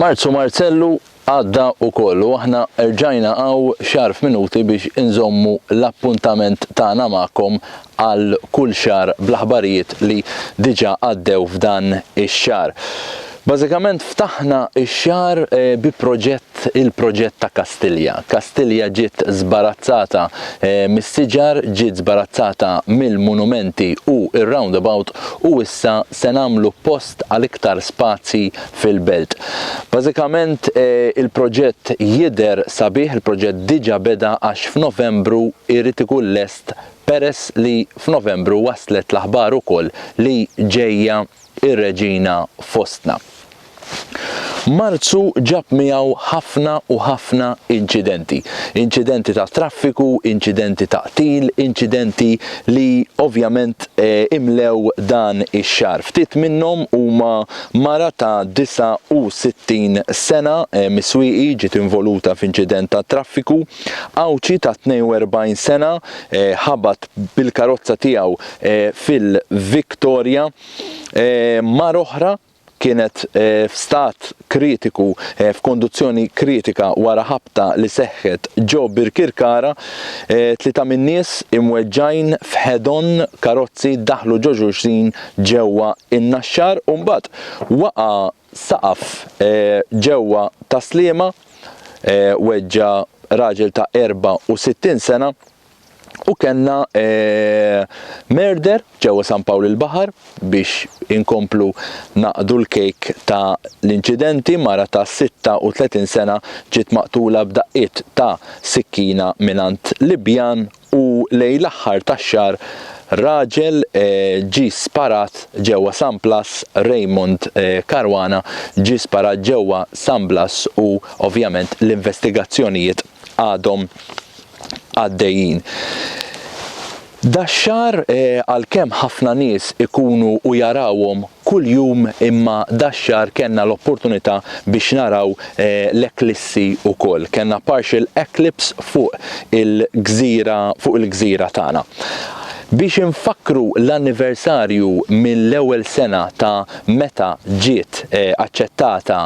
Marzu Marzellu għadda u kollu aħna rġajna għaw xar f'minuti biex inżommu l-appuntament tagħna magħkom għal kull xar bl-aħbarijiet li diġa għaddew f'dan ix-xar. Bażikament ftaħna x-xahar bi proġett, il-proġett ta' Kastilja. Kastilja ġiet żbarazzata mis-siġar, ġiet żbarazzata mill-munumenti u r-roundabout u issa se nagħmlu post għal iktar spazji fil-belt. Bażikament il-proġett jidher sabiħ, il-proġett diġa beda għax f'Novembru jrid ikun lest peress li f'Novembru waslet l-aħbar ukoll li ġejja ir-Reġina fostna. Marzu ġab miegħu ħafna u ħafna inċidenti. Inċidenti ta' traffiku, inċidenti ta' qtil, inċidenti li ovvjament imlew dan ix-xahar. Ftit minnhom huma mara ta' 69 sena, Miswieqi, ġiet involuta f'inċident ta' traffiku, Għawdxi ta' 42 sena, ħabat bil-karozza tiegħu fil-Victoria. Mara oħra kienet f'stat kritiku, f'konduzzjoni kritika wara ħabta li seħħet ġo Birkirkara. Tlieta min-nies imweġġgħin f'head-on karozzi daħlu ġo xulxin ġewwa n-Naxxar u mbagħad waqa' saqaf ġewwa Tas-Sliema, weġġa' raġel ta' 64 sena. u kellna merder ġewwa San Pawl il-Baħar biex inkomplu naqdu l-kejk ta' l-inċidenti mara ta' 36 sena ġiet maqtula b'daqqiet ta' sikkina mingħand Libjan u lejn l-aħħar tax-xahar raġel ġie sparat ġewwa San Blas Raymond Caruana ġie sparat ġewwa San Blas u ovvjament l-investigazzjonijiet għadhom għaddejjin. Dax-xahar għalkemm ħafna nies ikunu u jarawhom kuljum imma dax-xahar kellna l-opportunità biex naraw l-eklissi wkoll. Kellna partial eclipse fuq il-gżira fuq il-gżira tagħna. Biex infakkru l-anniversarju mill-ewwel sena ta' meta ġiet aċċettata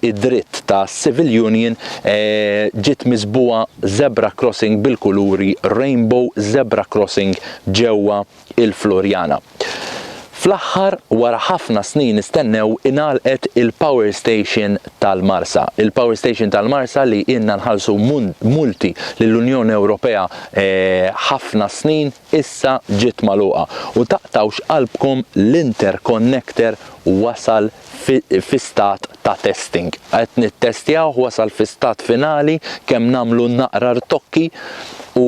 id-dritt ta' civil union ġiet miżbugħa zebra crossing bil-kuluri rainbow zebra crossing ġewwa il-Floriana. Fl-aħħar, wara ħafna snin nistennew, ingħalqet il-power station tal-Marsa. Il-power station tal-Marsa li ilna nħallsu multi lill-Unjoni Ewropea eh, ħafna snin, issa ġiet magħluqa u taqtgħux qalbkom l-interconnector wasal fi fi stat ta' testing qed nittestjawh wasal fi stat finali kemm nagħmlu naqra rtokki u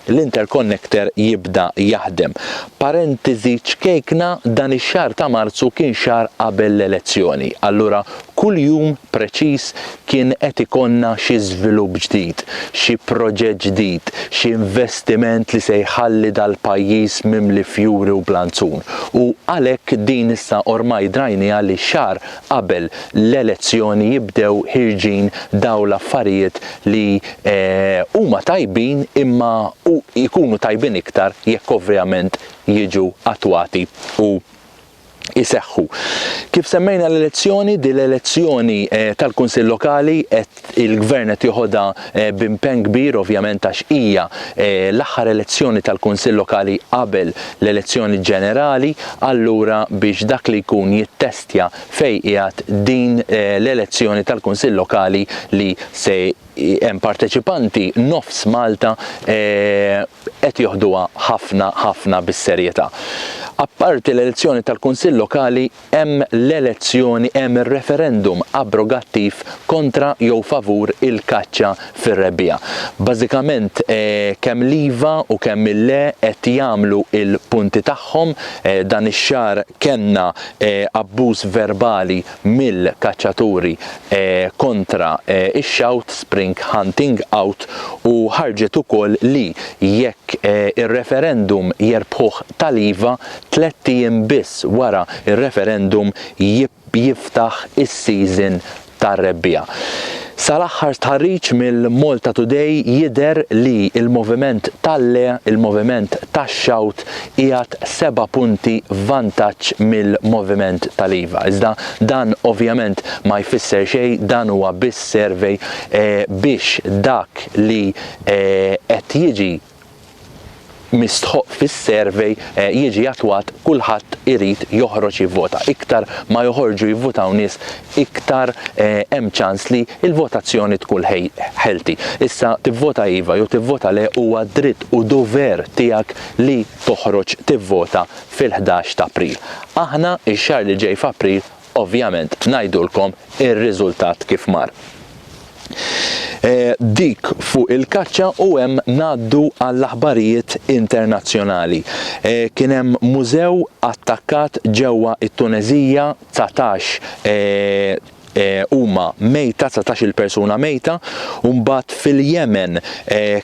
l-interconnector jibda jaħdem. Parentiżi ċkejkna dan ix-xahar ta' Marzu kien xahar qabel l-elezzjoni allura Kull jum preċiż kien qed ikollna xi żvilupp ġdid, xi proġett ġdid, xi investiment li se jħalli dal-pajjiż mimli fjuri u blanzun. U għalhekk din issa ormai drajnieha li xahar qabel l-elezzjoni jibdew ħierġin dawn l-affarijiet li huma tajbin imma jkunu tajbin iktar jekk ovvjament jiġu attwati u iseħħu. Kif semmejna l-elezzjoni, din l-elezzjoni eh, tal-Kunsill Lokali qed il-Gvern qed joħodha eh, b'impenn kbir ovvjament għax hija eh, l-aħħar elezzjoni tal-Kunsill Lokali qabel l-elezzjoni ġenerali, allura biex dak li jkun jittestja fejn qiegħed din l-elezzjoni tal-Kunsill Lokali li se hemm parteċipanti nofs Malta qed joħduha ħafna ħafna bis-serjetà. Apparti l-elezzjoni tal-Kunsill Lokali hemm l-elezzjoni hemm ir-referendum abrogattiv kontra jew favur il-kaċċa fir-rebbiegħa. Bażikament kemm l-iva u kemm il-le qed jagħmlu l-punti tagħhom. Dan ix-xahar kellna abbuż verbali mill-kaċċaturi kontra x-xawt, spring hunting out, u ħarġet ukoll li jekk ir-referendum jerbħuh Taliva, tlett ijiem biss wara r-referendum jiftaħ is-season tar-rebbiegħa. Sal-aħħar stħarriġ mill-Malta Today jidher li l-moviment tal-le, il-moviment tax-xawt, qiegħed seba' punti f'vantaġġ mill-moviment tal-iva. Iżda dan ovvjament ma jfisser xejn, dan huwa biss survey biex dak li qed jiġi mistħoqq fis-survey jiġi attwat, kulħadd irid joħroġ jivvota. Iktar ma joħorġu jivvutaw nies, iktar hemm ċans li l-votazzjoni tkun healthy. Issa tivvota iva jew tivvota le huwa dritt u dover tiegħek li toħroġ tivvota fil-ħdax ta' April. Aħna x-xahar li ġej f'April ovvjament ngħidulkom ir-riżultat kif mar. Dik fuq il-kaċċa u hemm ngħaddu għall-aħbarijiet internazzjonali. Kien hemm mużew attakkat ġewwa t-Tuneżija 19 huma mejta, dsatax-il persuna mejta, u mbagħad fil-Jemen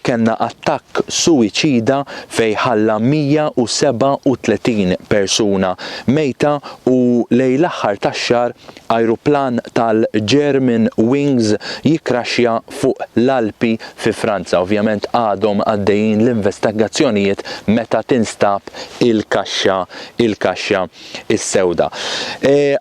kellna attakk suwiċida fejn ħalla 137 persuna mejta u lejn l-aħħar tax-xahar ajruplan tal-German Wings jikkraxxja fuq l-Alpi fi Franza. Ovvjament għadhom għaddejjin l-investagazzjonijiet meta tinstab il-kaxxa. is-sewda.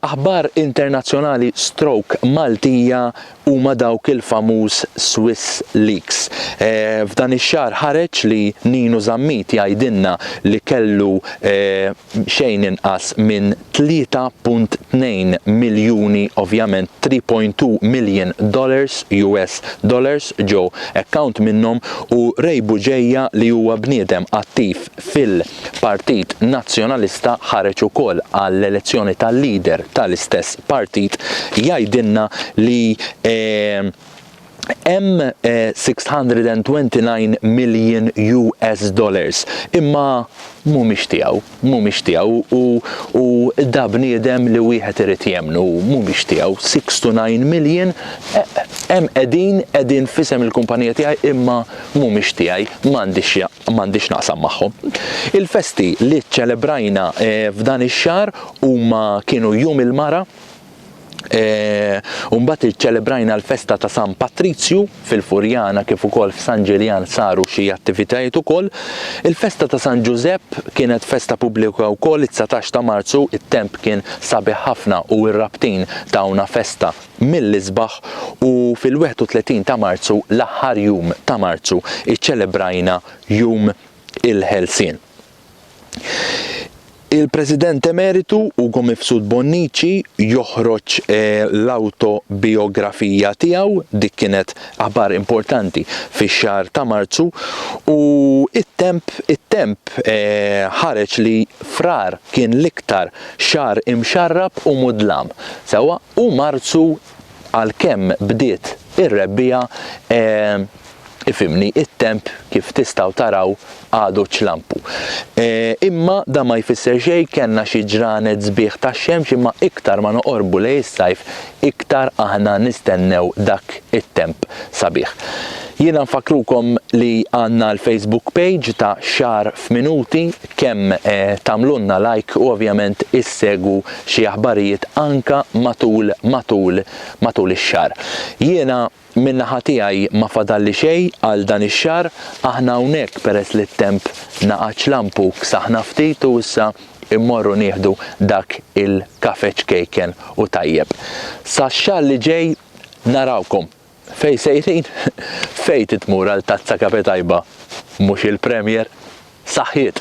Aħbar internazzjonali stroke Maltija huma dawk il-famuż Swiss Leaks. F'dan ix-xahar ħareġ li Ninu Zammit jgħidilna li kellu xejn inqas minn 3.2 miljuni, ovvjament 3.2 million dollars, US dollars, ġo account minnhom u Ray Bugeja li huwa bniedem attiv fil Partit Nazzjonalista ħareġ ukoll għall-elezzjoni tal-leader tal-istess partit jgħidilna li hemm 629 million US dollars imma mhumiex tiegħu, mhumiex tiegħu u u da bniedem li wieħed irid jemmnu, mhumiex tiegħu 629 million hemm qegħdin qegħdin f'isem il-kumpanija tiegħi imma mhumiex tiegħi, m'għandix m'għandix naqsam magħhom. Il-festi li ċċelebrajna eh, f'dan ix-xahar huma kienu Jum il-Mara, eh, u mbagħad iċċelebrajna l-festa ta' San Patrizju fil-Furjana kif ukoll f'San Ġiljan saru xi attivitajiet ukoll. Il-festa ta' San Ġużepp kienet festa pubblika wkoll it-19 ta' Marzu, it-temp kien sabiħ ħafna u r-rabtin tawna festa mill-isbaħ u fil-31 ta' Marzu, l-aħħar jum ta' Marzu, iċċelebrajna Jum il-Ħelsien. Il-President Emeritu Ugo Mifsud Bonnici joħroġ l-awtobijografija tiegħu, dik kienet aħbar importanti fix-xahar ta' Marzu, u it-temp it-temp ħareġ li Frar kien l-iktar xahar imxarrab u mudlam sewwa. U Marzu għalkemm bdiet ir-rebbiegħa ifhimni, it-temp kif tistgħu taraw għadu ċlampu. Imma dan ma jfisser xejn, kellna xi ġranet sbieħ tax-xemx imma iktar ma noqorbu lejn is-sajf iktar aħna nistennew dak it-temp sabiħ. Jiena nfakkrukom li għandna l-Facebook page ta' Xahar f'Minuti kemm tagħmlulna like u ovvjament issegwu xi aħbarijiet anka matul matul matul ix-xahar. Jiena minn naħa tiegħi ma fadalli xejn għal dan ix-xahar, aħna hawnhekk peress li t-temp naqax lampu ksaħna ftit u issa mmorru nieħdu dak il-kafè ċkejken u tajjeb. Sax-xahar li ġej narawkom! Fejn sejrin? Fejn trid tmur għal tazza kafe tajba mhux il-Premier? Saħħiet!